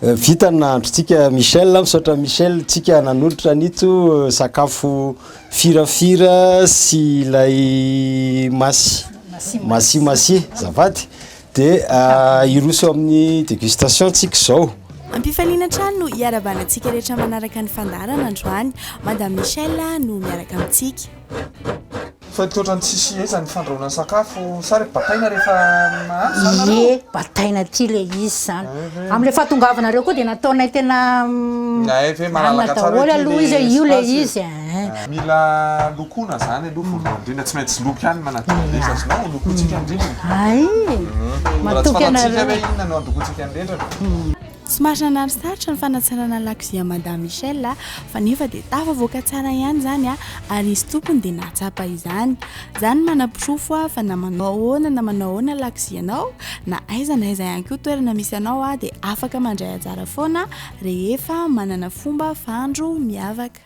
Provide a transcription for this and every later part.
Vita ny nahandrontsika Michel, misaotra Michel tsika nanolotra an'ito sakafo firafira sy ilay masy masy masy zafady dia hiroso eo amin'ny degustation tsika zao. Ampifaliana hatrany no hiarahabana antsika rehetra manaraka ny fandaharana androany. Madame Michel no miaraka amintsika. Fa misaotra ny tsy sehezan'ny fandrahoana sakafo. Sa re bataina rehefa mahandro zany nareo? Ie, bataina aty ilay izy izany. Amin'ilay fahatongavanareo koa dia nataonay tena hanina daholo aloha izy e, io ilay izy e. Mila lokoina izany aloha voalohany indrindra, tsy maintsy loko ihany ny manadio ny rindra, azonao no lokointsika ny rindrina? Hay! Matoky anareo. Raha tsy fantatsika hoe inona no handokointsika ny rindrina. Tsy marina na misarotra ny fanatsarana lakozia Madame Michelle fa nefa dia tafavoaka tsara ihany izany ary izy tompony dia nahatsapa izany. Za no manaporofo fa na manao ahoana na manao ahoana lakozia anao na aiza na aiza ihany koa toerana misy anao dia afaka mandray anjara foana rehefa manana fomba fahandro miavaka.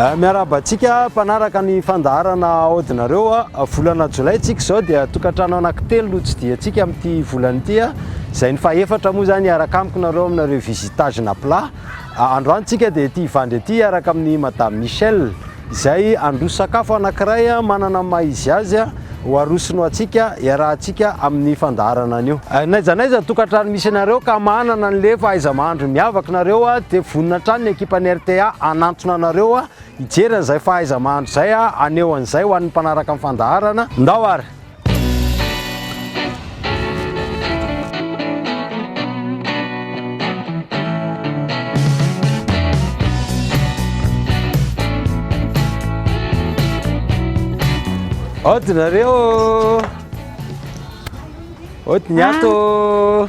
Eh, miarahaba antsika mpanaraka ny fandaharana aodinareo a ah. volana jolay tsika izao dia tokantrano anankitelo no tsidiantsika amin'ity volana ity a ah. izay ny fahefatra moa izany hiaraka amiko nareo aminareo visitage na plat Androany tsika dia ety Ivandry ety hiaraka amin'i Madame Michelle izay handroso sakafo anankiray manana ny maha izy azy ho arosony ho antsika hiarahantsika amin'ny fandaharana anio. N'aiza n'aiza ny tokantrano misy anareo ka manana an'le fahaiza-mahandro miavaka nareo dia vonona hatrany ny ekipan'ny rta hanantona anareo hijery an'izay fahaiza-mahandro izay haneho an'izay ho an'ny mpanaraka ny fandaharana. Ndao ary! Aotinareo ô! Aotin'ny ato ô!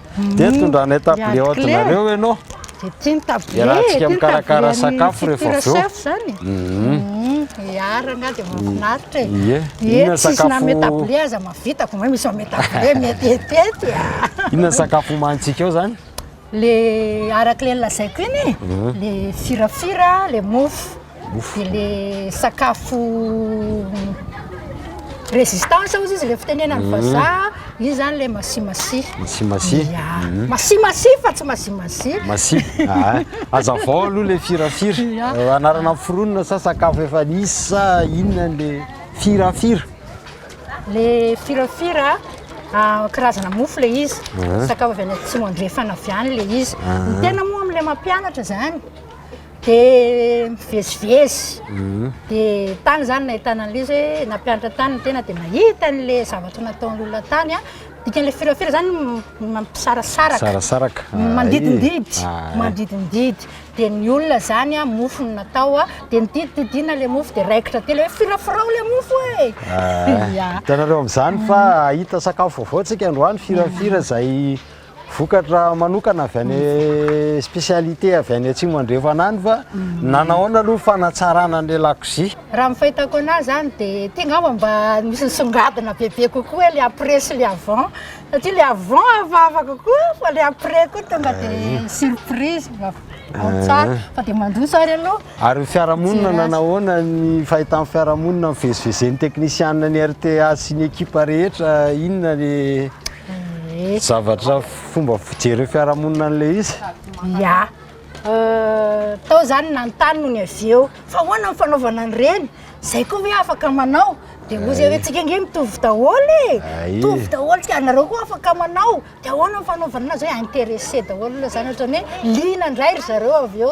Dia hmm, tondranay table haute nareo ianao. Dia tsy ny table, iarahantsika mikarakara sakafo rehefa avy eo. Zany. Hmm. Hmm, iarana dia mahafinaritra e. Ie. Inona sakafo? Tsisy name table aza mavita vao misy name table mety etety. Inona sakafo omanintsika eo zany? Le araka le lazaiko iny, le firafira, le mofo. Mofo. Dia ilay sakafo résistance hozy izy, ilay fitenenan'ny mhm. vazaha, izy izany ilay masimasia. Masimasia. Ya. Mhm. Masimasia fa tsy masimasia. Masia. Ah, aza vao aloha ilay firafira. Eh, anarana foronina sa sakafo efa nisy sa inona ilay firafira? Ilay firafira, ah, karazana mofo ilay izy. Mhm. Sakafo avy any atsimo andrefana avy any ilay izy. Ny tena moa amin'ilay mampianatra izany, de mivezivezy mhm. de tany zany nahitana an'le izy hoe nampianatra tany ny tena de mahita an'le zavatra nataon'ny olona tany a dikan'le firafira zany mampisarasaraka mandidindidy mandidindidy de ny olona zany a mofo ny natao a de nididididina le mofo de raikitra telo hoe firafirao le mofo e hitanareo am'zany fa ahita sakafo vaovao tsika androany firafira zay Vokatra manokana avy any spécialité avy any atsimo andrefana any va mm. nanaona aloha fanatsarana ny lakozia raha mifahitako anazy zany dia ty ngamba mba misy nisongadina bebe kokoa hoe le après sy le avant satria le avant hafahafa kokoa fa le après koa tonga dia eh. surprise eh. fa dia mandroso ary aloha Ary ny fiarahamonina nanahoana ny fahitan'ny fiarahamonina nivezivezen'ny teknisianina ny RTA sy ny ekipa rehetra inona ny zavatra fomba fijeren'ny fiarahamonina an'ilay izy? Ya. Tao izany nanontany nony avy eo fa ahoana ny fanaovana an'ireny? Izay koa ve afaka manao? Dia hoy izy hoe antsika ange mitovy daholo e, mitovy daholo ka anareo koa afaka manao, dia ahoana ny fanaovana an'azy hoe intéressé daholo aloha izany ohatran'ny hoe liana indray ry zareo avy eo.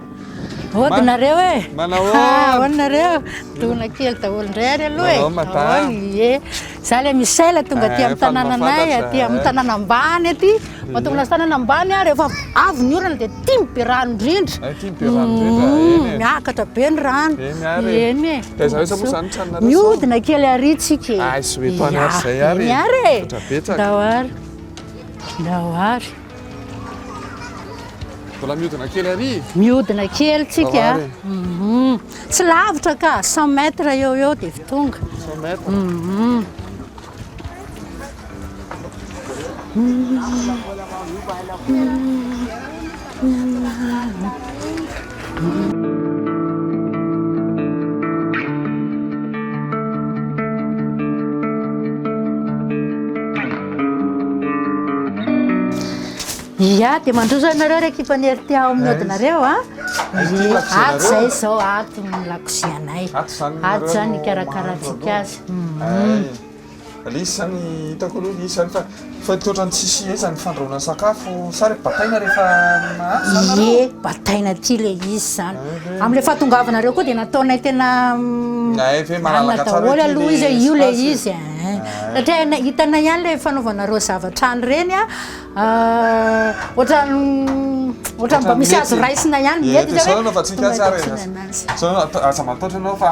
Hody nareo e! Manao ahoana? Ahoana nareo? Dona kely daholo indray ary aloha e! Manao madame? Ahoana? Ie, za le Michel tonga aty Eh, amin'ny fa ny tanànanay, mahafantatra, aty eh. amin'ny tanàna ambany aty. Mahatonga lasa tanàna ambany aho rehefa avy ny orana dia tim be rano indrindra. Eh, tim be rano indrindra, Mm, eny e. Miakatra be ny rano. Eny ary e. Eny e. Taiza rehetra moa zany trano nareo zao? Mihodina kely ary tsika e. Ay, soetana ary izay ary e. Eny ary e. Mihoatra betsaka. Ndao ary. Ndao ary. Mbola miodina kely ary Miodina kely tsika mhm. Tsy lavitra ka, 100 mètres eo eo dia vy tonga 100 mètres mhm. mhm. Ia, dia mandroso anareo ry ekipan'ny RT ao amin'ny odinareo a. Dia ato izay izao ato ny lakozianay. Ato izany ny ikarakarantsika azy. Ilay izy izany hitako aloha ilay izy izany fa fa toa ohatran'ny tsy sia izany fandrahoana ny sakafo sa rehefa bataina rehefa mahandro izany nareo? Ie, bataina aty ilay izy izany. Amin'ilay fahatongavanareo koa dia nataonay tena mm, Nahay ve malalaka anona tsara hoe daholo ity aloha izy, ilay io ilay espace e? izy eh. Satria hainay, hitanay ihany ilay fanaovanareo zavatra any ireny a, ah, ohatran'ny ohatran'ny mba Ohatran'ny misy azo mety. raisina ihany, Ie, mety dia izao izany no anaovantsika tonga azy ary. dia tianay an'azy. Izao no atao, aza mataotra ianao fa.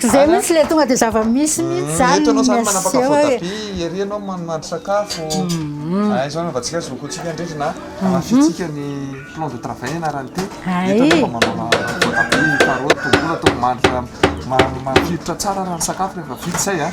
K'izay mihitsy le tonga de zava-misy mihitsy zany Eto ianao zany manapaka voa tabia ery ianao manonady sakafo Hay izao anaovantsika zoky antsika indrindra na hamafiantsika ny plan de travail ianarany ity Eto ianao mba manao voatabia, karaoty, tongolo atao mandry mafilotra tsara raha ny sakafo rehefa vita izay a.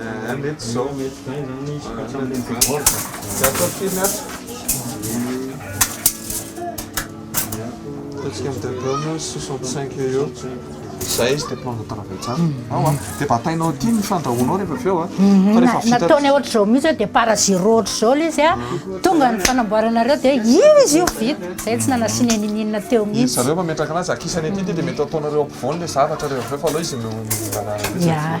Aa mety izao. Mety izay izany izy fa tsy amin'ilay billboard. Tsy ataovy firy ato. Ataontsika amin'ny debut 65 eo eo. Izay izy dia mpanao travail tsara. Ao a. Dia batainao aty ny fandrahoanao rehefa avy eo a. Fa rehefa vita. Nataony ohatr'izao mihitsy dia par zero ohatr'izao ilay izy a. Tonga ny fanamboaranareo dia izy io vita. Izay tsy nanasiana inin'inona teo mihitsy. Izy zareo mametraka anazy akisany aty dia mety ataonareo ampovoany ilay zavatra rehefa avy eo fa aleo izy no mihinana. Ya.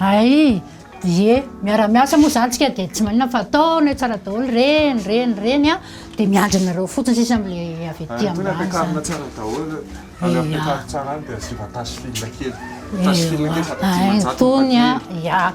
Ay ie miara miasa moa zany tsika de tsy manina fa atao ny tsara daholo reny reny reny a de miandry anareo fotsiny sisa amle avy aty ambany zany. Tony a ia.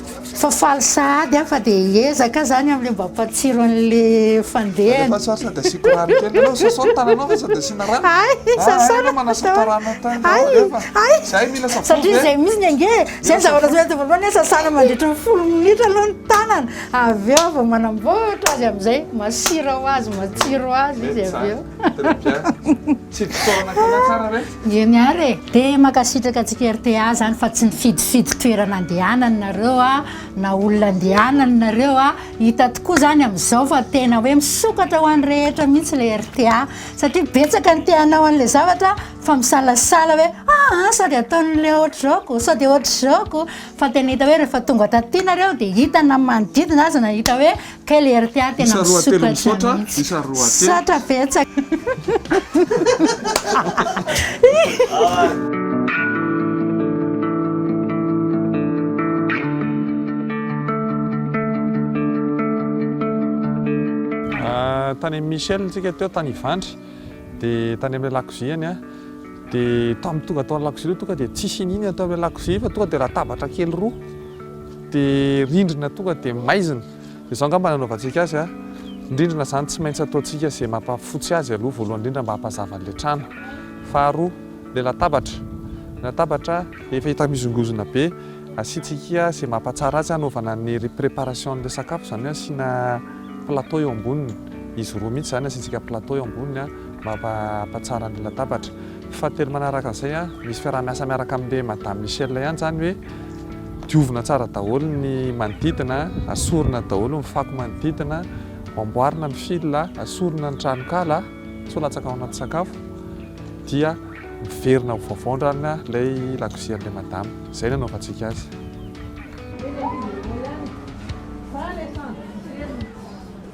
Fa faly sahady aho fa dia hiezaka izany amin'ilay mba hampatsiro an'ilay fandehany. Alefaso ary sady asiako rano kely. Aleo sasao ny tananao fa sady asiana rano. Hay, sasana. Hay, aleo manasa tarana ny tananao. Hay. Alefa. Hay. Izay mila savony. Satria izay mihitsy ny ange e. Izay ny zavatra samy ataovy aloha, sasana mandritra ny folo minitra aloha ny tanana. Avy eo vao manamboatra azy amin'izay, masira ho azy, matsiro ho azy izy avy eo. Mety izany. Très bien. Tsy ditaona karakara ve? Eny ary e! De mankasitraka antsika rta zany fa tsy nifidifidy toerana andehanany nareo a, na olona andehanany nareo a, hita tokoa zany amizao fa tena hoe misokatra ho any rehetra mihitsy le rta satria betsaka ny te hanao anle zavatra fa misalasala hoe aa sao de ataonle otrzao ko, sao de otrzao ko, fa tena hita hoe refa tonga taty nareo de hita na manodidina aza na hita hoe Quelle heure ty ah tena misokatra mihitsy. Isa roa telo. Misaotra betsaka. Ah, tany amin'i Michel tsika teo tany Ivandry dia tany amin'ilay lakoziany a dia tamin'ny tonga tao lakozia ireo tonga dia tsisy inona atao amin'ilay lakozia fa tonga dia latabatra kely roa Dia rindrina tonga dia maizina. Dia izao angamba no hanaovantsika azy a! Ny rindrina izany tsy maintsy ataontsika izay mampahafotsy azy aloha voalohany indrindra mba hampazava an'ilay trano. Faharoa, ilay latabatra. Ny latabatra efa hita mihozongozona be, asiantsika izay mampahatsara azy hanaovana ny préparation an'ilay sakafo, izany hoe asiana plateau eo amboniny. Izy roa mihitsy izany, asiantsika plateau eo amboniny mba hampahatsara ny latabatra. Fahatelo manaraka an'izay an, misy fiaraha-miasa miaraka amin'ilay Madame Michelle ihany izany hoe diovina tsara daholo ny manodidina, asorina daholo ny fako manodidina, amboarina ny fil, asorina ny tranonkala, sao latsaka ao anaty sakafo, dia miverina ho vaovao ndrany ilay lakozia an'ilay Madame. Izay no anaovantsika azy.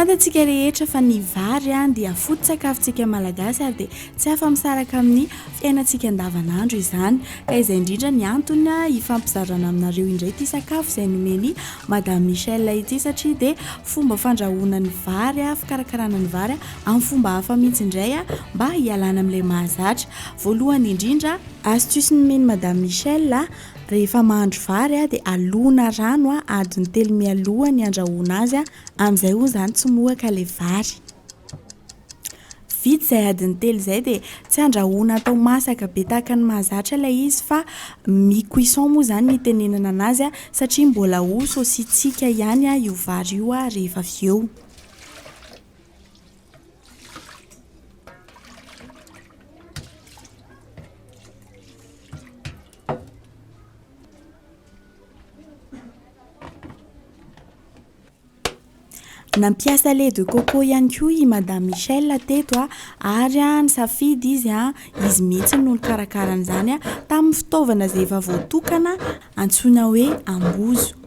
Fantatsika rehetra fa ny vary an dia foto-tsakafontsika malagasy ary dia tsy afa-misaraka amin'ny fiainantsika andavanandro izany. Ka izay indrindra ny antony hifampizarana aminareo indray ity sakafo izay nomen'i Madame Michel ity satria dia fomba fandrahoana ny vary, fikarakarana ny vary amin'ny fomba hafa mihitsy indray mba hialana amin'ilay mahazatra. Voalohany indrindra, astuce nomen'i Madame Michel Rehefa mahandro vary a, dia alona rano a, adiny telo mialoha ny andrahoana azy a, amin'izay hono izany tsy mohaka ilay vary. Vita izay adiny telo izay dia tsy andrahoana atao masaka be tahaka ny mahazatra ilay izy fa mi-cuisson moa izany ny itenenana an'azy a, satria mbola ho saosintsika ihany a io vary io a rehefa avy eo. Nampiasa lait de coco ihany koa i Madame Michelle teto ary nisafidy izy an, izy mihitsy no nikarakara an'izany tamin'ny fitaovana izay efa voatokana antsoina hoe ambozo.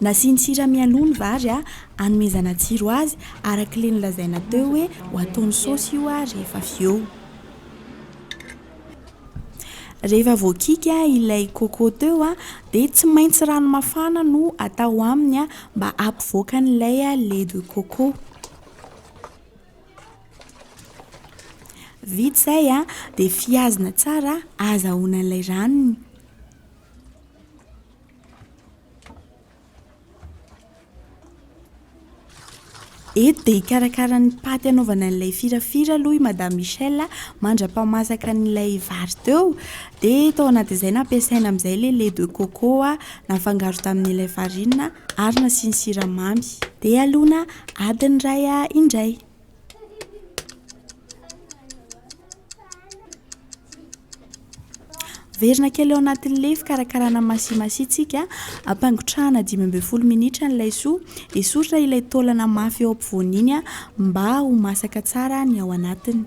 Nasiany sira mialoha ny vary hanomezana tsiro azy arak'ilay nolazaina teo hoe ho ataony saosy io rehefa avy eo. Rehefa voakiky ilay coco teo dia tsy maintsy rano mafana no atao aminy mba hampivoaka an'ilay lait de coco. Vita izay a, dia fihazina tsara ahazahoana ilay ranony. Eto dia hikarakara ny paty hanaovana an'ilay firafira aloha i Madame Michel mandra-pahamasaka an'ilay vary teo. Dia tao anatin'izay nampiasaina amin'izay ilay lait de coco nafangaro tamin'ilay farine ary nasiany siramamy. Dia alona Adin'ny ray ahy indray. Averina kely ao anatin'ny lefy karakarana masimasitsika, ampangotrahana dimy ambin'ny folo minitra ny laisoa, esorina ilay taolana mafy eo ampovoany iny mba ho masaka tsara ny ao anatiny.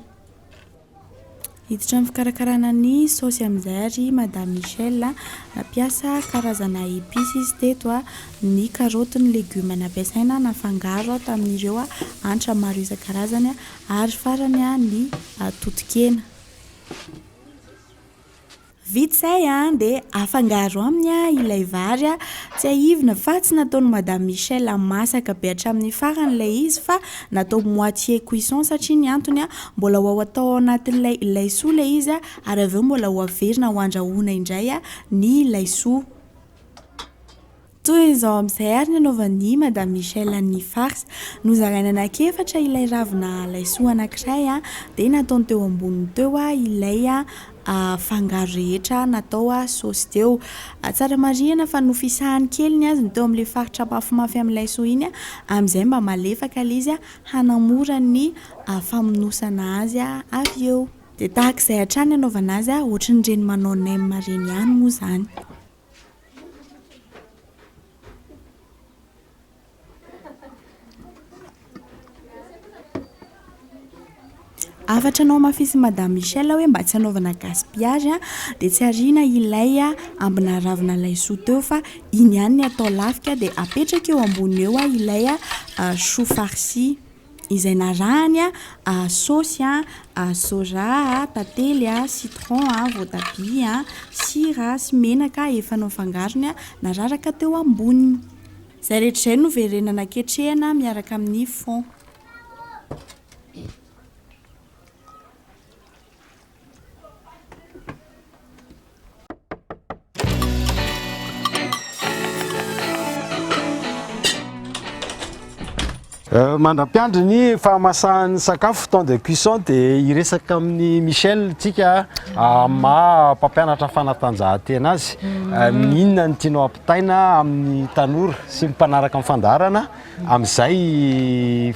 Hiditra amin'ny fikarakarana ny saosy amin'izay ary Madame Michelle a! Nampiasa karazana épices izy teto a! Ny karaoty, ny legioma nampiasaina nafangaro tamin'ireo hanitra maro isan-karazany ary farany ny toton-kena. Vita izay dia afangaro aminy ilay vary. Tsiahivina fa tsy nataon'i Madame Michelle masaka be hatramin'ny farany ilay izy fa natao moitié cuisson satria ny antony mbola ho atao ao anatin'ilay laisoa ilay izy ary avy eo mbola ho averina ho andrahoina indray ny laisoa. Toy izao amin'izay ary ny anaovan'i Madame Michelle ny farce. Nozarainy anankiefatra ilay ravina laisoa anankiray dia nataony teo amboniny teo ilay fangaro rehetra natao saosy teo. Tsara marihina fa nofisahany kely ny azy ny teo amin'ilay faritra mafimafy amin'ny laisoa iny amin'izay mba malefaka ilay izy hanamora ny famonosana azy avy eo. Dia tahaka izay hatrany ny anaovana azy, ohatry ny ireny manao nem ireny ihany moa izany. Hafatra anao mafisy Madame Michelle hoe mba tsy anaovana gaspillage dia tsy ariana ilay ambina ravina laisoa teo fa iny ihany ny atao lafika dia apetraka eo ambony eo ilay choux farci. izay narahany a, saosy a, soja a, tantely a, citron a, voatabia a, sira a, sy menaka efa nofangarony a, nararaka teo amboniny. Izay rehetra izay no verenana ketrehina miaraka amin'ny fond. Euh, mandra-piandry ny fahamasahan'ny sakafo temps de cuisson dia hiresaka amin'ny michel tsika ah, maha mpampianatra fanatanjahantena azy mm. euh, minona ny tianao ampitaina amin'ny tanora sy mpanaraka ny fandaharana amin'izay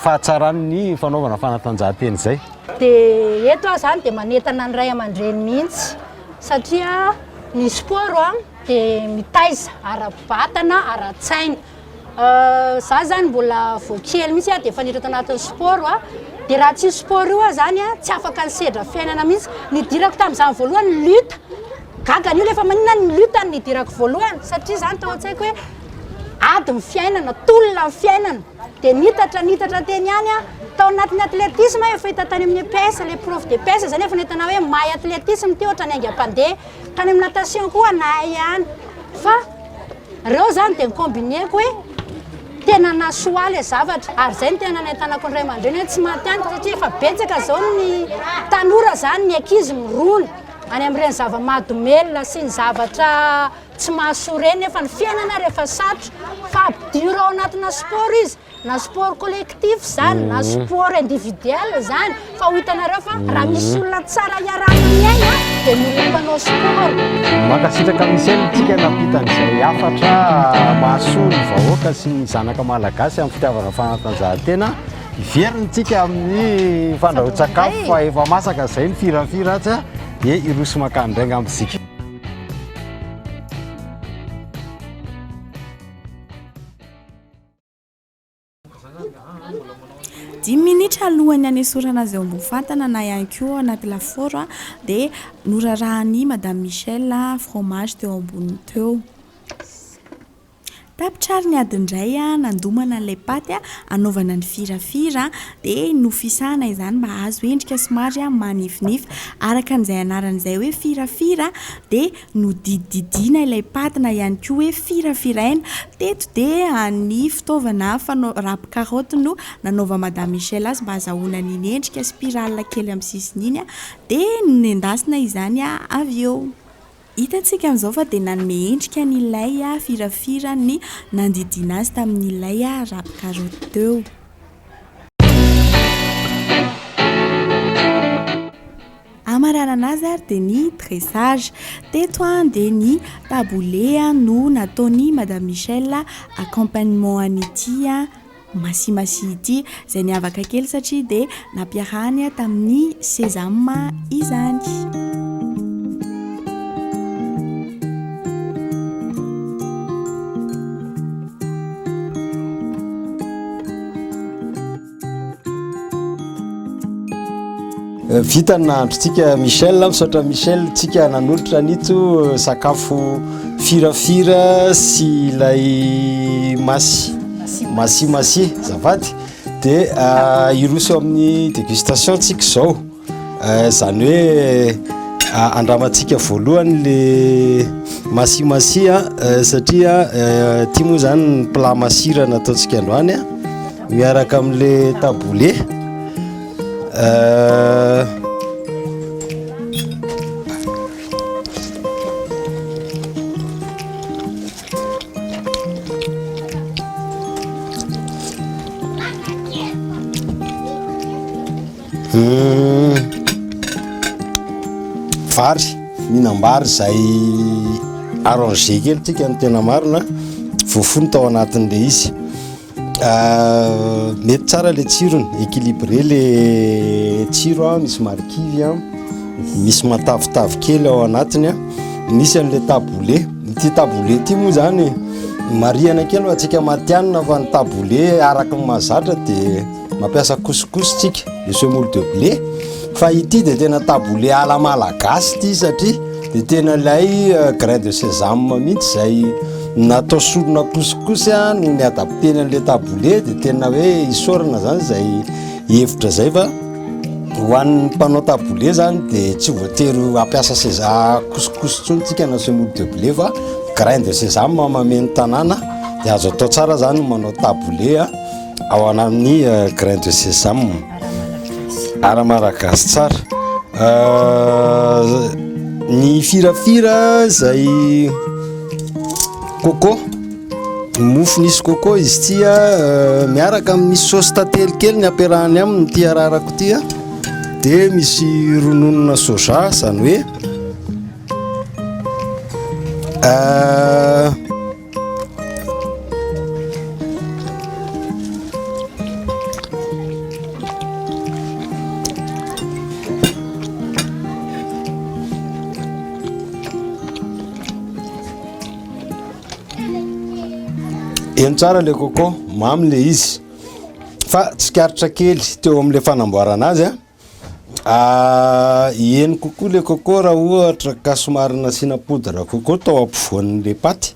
fahatsaran'ny fanaovana fanatanjahantena izay. Dia eto aho izany dia manentana ny ray aman-dreny mihitsy satria ny sport an dia mitaiza ara-batana, ara-tsaina. Izaho izany mbola vao kely mihitsy aho dia efa niditra tanatin'ny sport an, dia raha tsy io sport io aho izany an tsy afaka nisedra fiainana mihitsy. Nidirako tamin'izany voalohany ny lutte, Gaga an'io le fa maninona ny lutte no nidirako voalohany satria zany tao an-tsaiko hoe ady ny fiainana, tolona ny fiainana. Dia niitatra niitatra teny ihany aho. Tao anatin'ny athlétisme aho efa hita tany amin'ny EPS, ilay prof d'EPS izany efa nahita anah hoe mahay athlétisme ity ohatran'ny haingam-pandeha. Tany amin'ny natation koa nahay ihany. Fa ireo izany dia ni-combiner-ko hoe tena nahasoa ahy ilay zavatra. Ary izay no tena nanentanako ny ray aman-dreny hoe tsy maty ihany fa satria efa betsaka izao ny tanora izany, ny ankizy mirona. Any amin'ireny zava-mahadomelina sy ny zavatra tsy mahasoa ireny nefa ny fiainana rehefa sarotra fa ampidiro ao anatina sport izy na sport collectif izany na mm. sport individuel izany fa ho hitanareo fa raha misy olona tsara iarahana miaina dia ny olona mpanao sport mankasitraka misely tsika nampitan'izay hafatra mahasoa ny vahoaka sy ny zanaka malagasy amin'ny fitiavana fanatanjahantena Hiverina isika amin'ny fandrahoan-tsakafo fa efa masaka izay ny firafira atsy dia hiroso makany indray angamba isika. Dimy minitra alohan'ny hanesorana azy eo ambony fatana na ihany koa ao anaty lafaoro dia norarahan'i Madame Michèle fromage teo amboniny teo. Tapitra ary ny ady indray nandomana an'ilay paty hanaovana ny firafira dia nofisahana izany mba hahazo endrika somary manifinify. Araka an'izay anarany izay hoe firafira dia nodidididiana ilay paty na ihany koa hoe firafiraina. Teto dia ny fitaovana fanao- râpe carotte no nanaovan'i Madame Michelle azy mba hazahoana an'iny endrika spirale kely amin'ny sisiny iny dia nendasina izany avy eo. Hitantsika an'izao fa dia nanome endrika ny lay firafira ny nandidiana azy tamin'ilay rap karaoty teo. Hamaranana azy ary dia ny dressage. Teto dia ny taboulé no nataon'i Madame Michelle accompagnement an'ity. Masimasia ity, izay niavaka kely satria dia nampiarahany tamin'ny Sesame izany. Vita ny nahandrontsika Michel, misaotra Michel tsika nanolotra an'ito sakafo firafira sy ilay masy masy masy zafady dia ah, hiroso eo amin'ny dégustation tsika izao eh, izany hoe ah, andramantsika voalohany le masy masy ah, eh, satria eh, ity moa izany ny plat masira nataontsika androany miaraka amin'le taboulé vary mihinam-bary izay arrangé kely tsika ny tena marina voafony tao anatin'ilay izy Mety tsara le tsirony, équilibré le tsiro a, misy marikivy a, misy matavitavy kely ao anatiny a, misy an'le taboulé, ity taboulé ity moa zany marihana kely ho antsika matihanina fa ny taboulé araka ny mahazatra de. Mampiasa couscous tsika, le semoule de blé, fa ity dia tena taboulé à la malagasy ity satria dia tena ilay euh, grain de sésame mihitsy izay natao sorona couscous a no ny adapteny an'ilay taboulé dia tena hoe isorana zany izay hevitra zay fa ho an'ny mpanao taboulé zany dia tsy voatery hampiasa seza couscous ntsony tsika na semoule de blé fa grain de sésame mameno tanàna dia azo atao tsara zany manao taboulé a ao anamin'ny euh, grain de sésame ara maragasy tsara euh, ny firafira izay coco mofo nisy coco izy tya euh, miaraka amin'ny saosy tantely kely ny ampiarahany aminy ity ararako ity a dia misy rononona soja izany hoe euh, Eny tsara le coco, mamy le izy. Fa tsikaritra kely teo amin'le fanamboarana azy a. Eny kokoa le coco raha ohatra ka somary nasiana poudre coco tao ampovoan'le paty,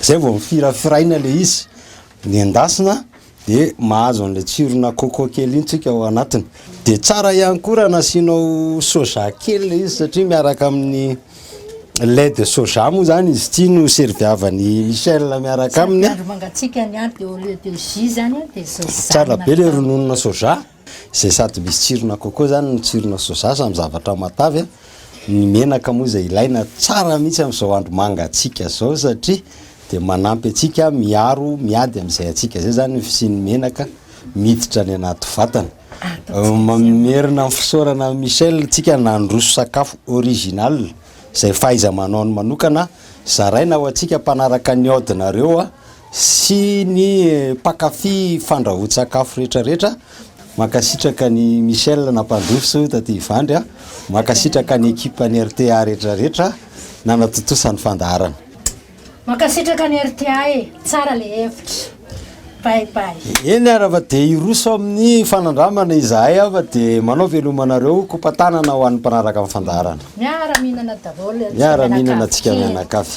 zay vao firafiraina le izy, ny endasina de mahazo an'le tsirona coco kely iny tsika ao anatiny, de tsara ihany koa raha nasianao soja kely le izy satria miaraka amin'ny lait de soja moa zany izy ity no serviavan'i Michel miaraka aminy an, tsara be le rononona soja. Izay sady misy tsirona coco zany no tsirona soja samy zavatra matavy a, ny menaka moa izay ilaina tsara mihitsy amin'izao andro mangatsiaka izao satria dia manampy antsika miaro miady amin'izay hatsiaka izay zany ny fisian'ny menaka miditra any anaty vatana. Mamerina ny fisaorana an'i Michel tsika nandroso sakafo original izay fahaiza-manaony manokana zaraina ho antsika mpanaraka ny audinareo a, sy ny mpakafy fandrahoan-tsakafo rehetra rehetra, mankasitraka an'i Michel nampandroso taty Ivandry a, mankasitraka ny ekipa ny rta rehetra rehetra nanatontosa ny fandaharana. Mankasitraka ny rta e! Tsara le hevitra. Bye bye. Eny ara fa dia hiroso amin'ny fanandramana izahay a fa dia manao veloma anareo, kopa tanana ho an'ny mpanaraka amin'ny fandaharana. Miara mihinana daholo ry miara mihinana tsika mianakavy.